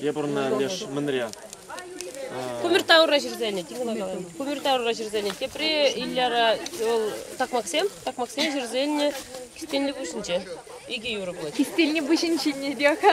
Я пурӑна леш мӑнря. Кумертаура ҫӗрсене, Кумертаура ҫӗрсене, тепре Иляра вӑл такмаксем, такмаксен ҫӗрсене Кистенлӗ пуҫӗнче. Икӗ юрӑ пулать. Кистенлӗ пуҫӗн ҫине те-ха.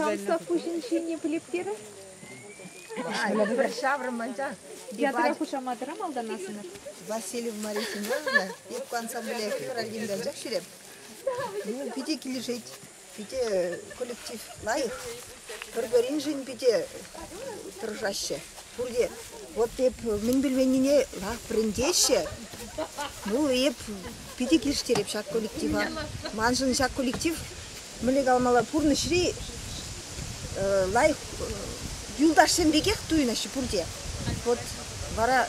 Комсов пуҫӗн ҫине пӗлептер. Пӗр ҫаврӑм анчах. Ятӑра хушаматӑра малтанасӑнӑр. Васильева Мария Семеновна, эпӗ ансамбле февральтен кайсах ҫӳреп. Ну, питӗ килӗшет, питӗ коллектив лайӑх. Пӗр-пӗриншӗн питӗ тӑрӑшаҫҫӗ. Пурте вот эп мӗн пӗлменнине вӗрентеҫҫӗ. Ну, эп питӗ килӗштереп ҫак коллектива. Маншӑн ҫак коллектив мӗнле калмалла пурнӑҫри лайӑх юлташсем пекех туйӑнаҫҫӗ пурте. Вот вара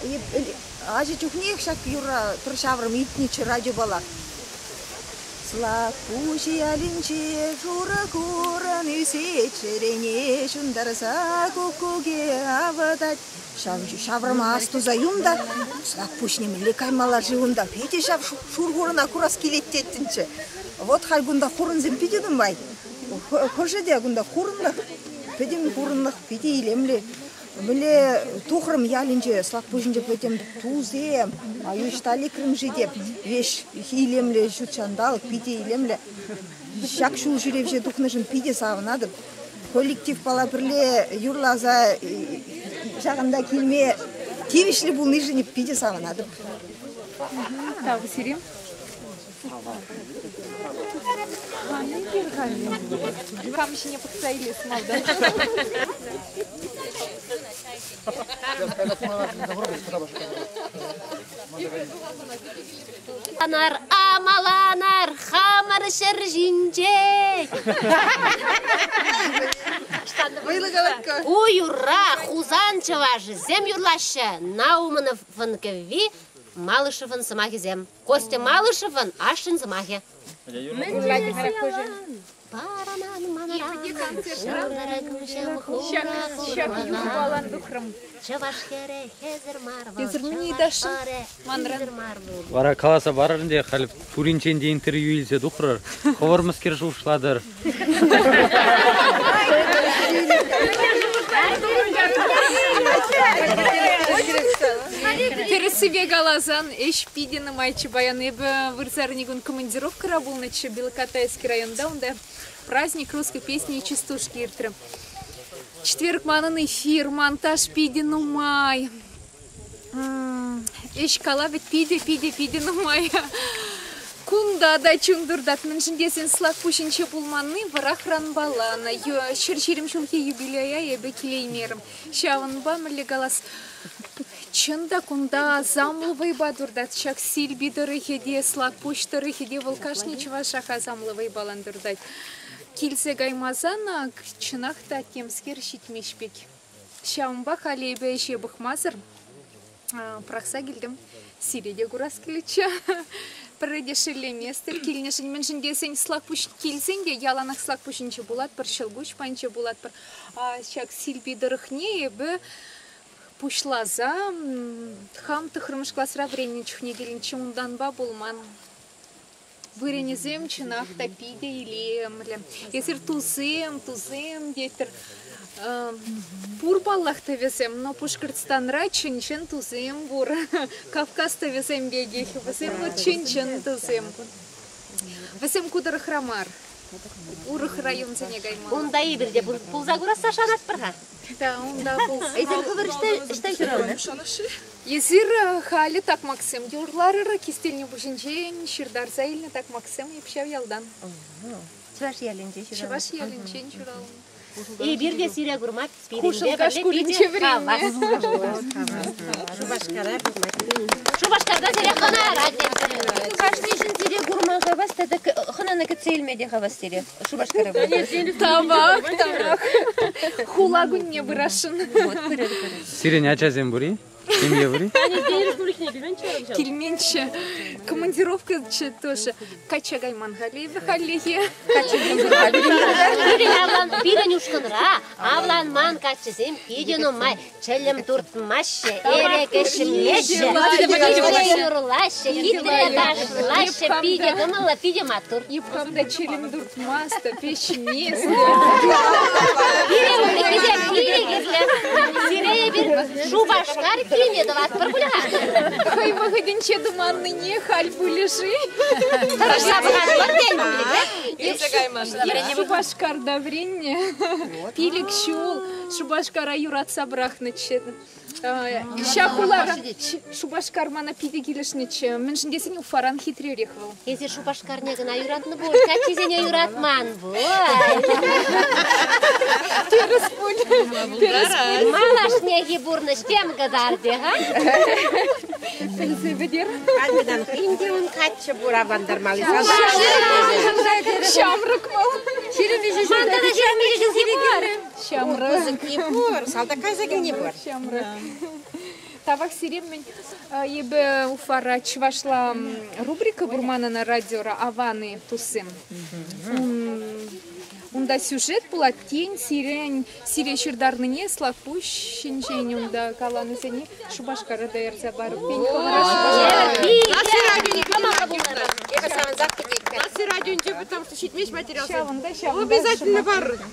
ача чухнех ҫак юрра пӗр ҫаврӑм илтнӗччӗ радиопала. Слакпуҫи аллинче шурӑ курӑн ӳсет, чӗрене ҫунтарса куккуке авӑтать. Ҫав ҫавӑрмас туса юм та, Слакпуҫ нимӗнле каймалла-ши унта, питӗ ҫав шур хурӑна курас килет теттӗнччӗ. Вӑт халь кунта хурӑнсем питӗ кӑмпай. Хӑшӗ те кунта хурӑнлӑх, пӗтӗм хурӑнлӑх питӗ илемлӗ. Мӗнле тухрӑм ялӗнче, Слакпуҫӗнче пӗтӗм тусем, ӑҫта лекрӗм-ши теп, веҫ илемлӗ ҫут ҫанталӑк, питӗ илемлӗ. Ҫак ҫул ҫӳревҫе тухнӑшӑн питӗ савӑнатӑп. Коллективпала пӗрле юрласа ҫакӑнта килме тивӗҫлӗ пулнишӗн питӗ савӑнатӑп. Тав сирӗн. Хани хир Кам ҫине пӑхса илес малта. Анар амаланар хамӑр ҫӗр ҫинче. Ой, ура! Хусан чӑвашӗсем юрлаҫҫӗ. Наумановӑн кӗвви, Малышевӑн сӑмахӗсем. Костя Малышевӑн ашшӗн сӑмахӗ. Эсӗрмен ыйтасшӑн манран. Вара каласа парӑр ӗнтӗ, халь пуринчен те интервью илсе тухрӑр, хӑвӑр мӗскер шухӑшлатӑр? Тӗрӗссипе каласан, ӗҫ питӗ нумайчче паян. Эпӗ вырсарни кун командировкӑра пулнӑччӗ Белокатайский районта. Унта праздник русской песни и частушки иртрӗ. Четверг манӑн эфир, монтаж питӗ нумай. Ӗҫ калавӗ питӗ-питӗ-питӗ нумай. Кунта та чун туртать. Мӗншӗн тесен Слакпуҫӗнче пулманни вӑрахранпала. Ӑна ҫӗр ҫирӗм ҫулхи юбилея эпӗ килеймерӗм. Ҫавӑнпа мӗнле калас? Чӑн та кунта асамлӑ вӑйпа туртать. Ҫак Сирпи тӑрӑхӗ те, Слакпуҫ тӑрӑхӗ те вӑл кашни чӑвашах асамлӑ вӑйпалан туртать. Килсе каймасан ак чӑнах та темскер ҫитмест пек. Ҫавӑнпа халь эпӗ ӗҫе пӑхмасӑр пӑрахса килтӗм. Сире те курас килетчӗ. Пӗрре те шеллеместӗр килнӗшӗн, мӗншӗн тесен Слакпуҫ килсен те яланах Слакпуҫӗнче пулатпӑр, Ҫӑлкуҫпанче пулатпӑр. Ҫак Силпи тӑрӑхне эпӗ пуҫласа хам тӑхӑрмӗш класра вӗреннӗ чухне килнӗччӗ, унтанпа пулман. Вырӑнӗсем чӑнах та питӗ илемлӗ. Эсир тусем, тусем тетӗр. Пур паллах тӑвӗсем, но Пушкӑртстанра чӑн-чӑн тусем пур. Кавказ тӑвӗсем пекех. Вӗсем вӑл чӑн-чӑн тусем. Вӗсем ку тӑрӑхра мар. Урӑх районсене каймалла. Унта эпир те пулса курасса шанатпӑр-ха. Да, унта пулса. Эсир хӑвӑр ӑҫта ҫуралнӑ? Эсир халӗ такмаксем те урларӑр. Кистелне пуҫӗнчен ҫыртарса илнӗ такмаксем ҫав ялтан. Чӑваш ялӗнче ҫуралнӑ. Чӑваш ялӗнчен ҫуралнӑ. Эпир те сире курмать. Хушӑлка шкулӗнче вӗреннӗ. Шупашкара курмать. Шупашкарта сире хӑнарать эсир. Кашни ҫын сире курма хавас тата хӑнана кӗтсе илме те хавас сире Шупашкара. Тавах, тавах. Хула кунне пырасшӑн. Вот, пырӑр, пырӑр. Сирӗн ачасем пур-и? Семье пур-и? Они денежку у них не килменччӗ. Килменчче. Командировкӑччӗ тоже. Качча кайман халӗ хальлӗхе. Качча Пирӗн авлан пирӗн ушкӑнра авланман каччӑсем питӗ нумай чӗлӗм туртмаҫҫӗ, элекӗшмеҫҫӗ, юрлаҫҫӗ, хитре ташлаҫҫӗ, питӗ кӑмӑллӑ, питӗ маттур. Йӑпхам та чӗлӗм турт. Маста, пеҫни, Пирӗн текисем пире кирлӗ. Сире эпир Шупашкар килне тӑватпӑр пуль-ха. хӑй вӑхӑтӗнче туманнине халь пулӗ-ши? Тӑрӑшса пӑхатпӑр тен. Иртсе каймасӑр. Шупашкарта вӗреннӗ пилӗк ҫул Шупашкара юратса пӑрахнӑччӗ. Ҫак хулара Шупашкар мана питӗ килӗшнӗччӗ, мӗншӗн тесен Уфаран хитререх вӑл. Эсӗ Шупашкарне кӑна юратнӑ пуль, каччисене юратман пуль. Тӗрӗс пуль. Тӗрӗс пуль. Малашнехи пурнӑҫ тем кӑтартӗ, ха? Пӗлсе пӗтер. Каллидан хӑйӗн те ун каччӑ пур авлантармалли. Ҫамрӑк вӑл. Ман тата ҫирӗм ҫул сивӗ килнӗ. Ҫамрӑк. Кӑсӑкне пур, салтак кӑсӑкне пур. Ҫамрӑк. Тавах сире мӗн эпӗ Уфара чӑвашла рубрика пур манӑн радиора Аваны туссем. Унта сюжет пулать, тен, сирен сире ҫыртарнине Слакпуҫ ҫинчен унта каланисене Шупашкара та ярса парӑп. Пен кӑларӑш. Класси радионе кама пултӑр? Эпӗ савӑнсах кӗтетпӗр. Класси радионче потому что ҫитмест материал. Ҫавӑнта ҫавӑнта. Обязательно бар.